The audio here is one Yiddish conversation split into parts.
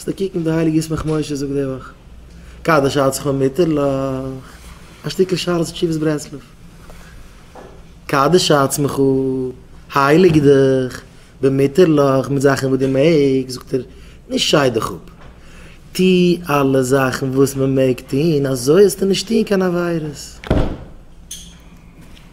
זאלסט נישט קוקן די הייליגע ישמח משה זאגט די וואך קדש עצמך ומיטרלך, א שטיקל שאלת תשובות ברסלב, קדש עצמך, הייליג דיך, ומיטרלך, מיט זאכן וואס דו מעגסט, זאגט ער, נישט שיי דיך אפ, טו אלע זאכן וואס מען מעג טון, אזוי זאלסטו נישט טון קיין עבירות.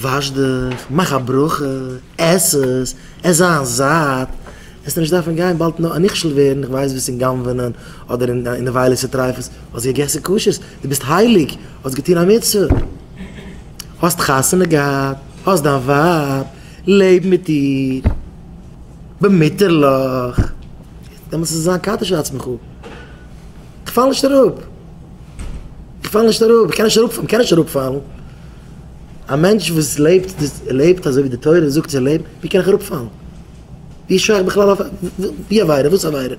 וואש דיך, מאך א ברכה, עס עס, עס זיין זאט, עסט נישט דארפן גיין באלד נאר א נכשל ווערן, איך ווייס וואס אין גנב'נען אדער אין נבילות וטריפות, האסט געגעסן כשר'ס, דו ביסט הייליג, האסט געטון א מצוה, האסט חתונה געהאט, האסט דיין ווייב, לעב מיט איר, במותר'לעך, דעמאלטס איז עס זיין קדש לעצמך, איך פאל נישט אראפ, איך פאל נישט אראפ, איך קען נישט אראפ פאלן, מען קען נישט אראפ פאלן. א מענטש וואס לעבט די לעבט אזוי ווי די תורה זאגט צו לעבן, ווי קען איך אראפ פאלן? ווי איז שייך בכלל אויף ווי עבירה וואס עבירה?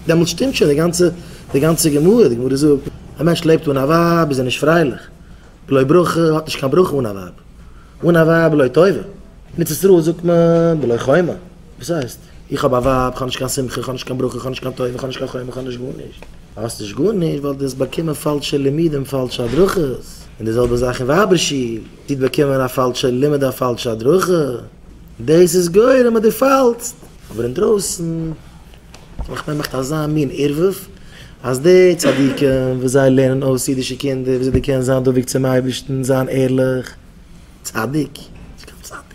דעמאלטס שטימט שוין די גאנצע די גאנצע גמרא, די גמרא זאגט א מענטש לעבט אן א ווייב איז ער נישט פרייליך, בלא ברכה האט נישט קיין ברכה אן א ווייב, אן א ווייב בלא טובה, אין ארץ ישראל זאגט מען בלא חומה, וואס הייסט? איך האב א ווייב, כ'האב נישט קיין שמחה, כ'האב נישט קיין ברכה, כ'האב נישט קיין טובה, כ'האב נישט קיין חוה מ, כ'האב נישט גארנישט. האסט נישט גארנישט ווייל דו האסט באקומען פאלשע לימודים, פאלשע הדרכות. און די זעלבע זאך אין ווייבער שול, דו האסט באקומען א פאלשע לימוד, א פאלשע הדרכה, דאס איז גורם אז דו פאלסט. אבער אינדרויסן האט מיך נעמאכט אזא מין ערבוב, אז די צדיקים וואס זיי לערנען אויס אידישע קינדער וויאזוי דו קענסט זיין דבוק צום אייבערשטן, זיין ערליך, צדיק, נישט קיין צדיק.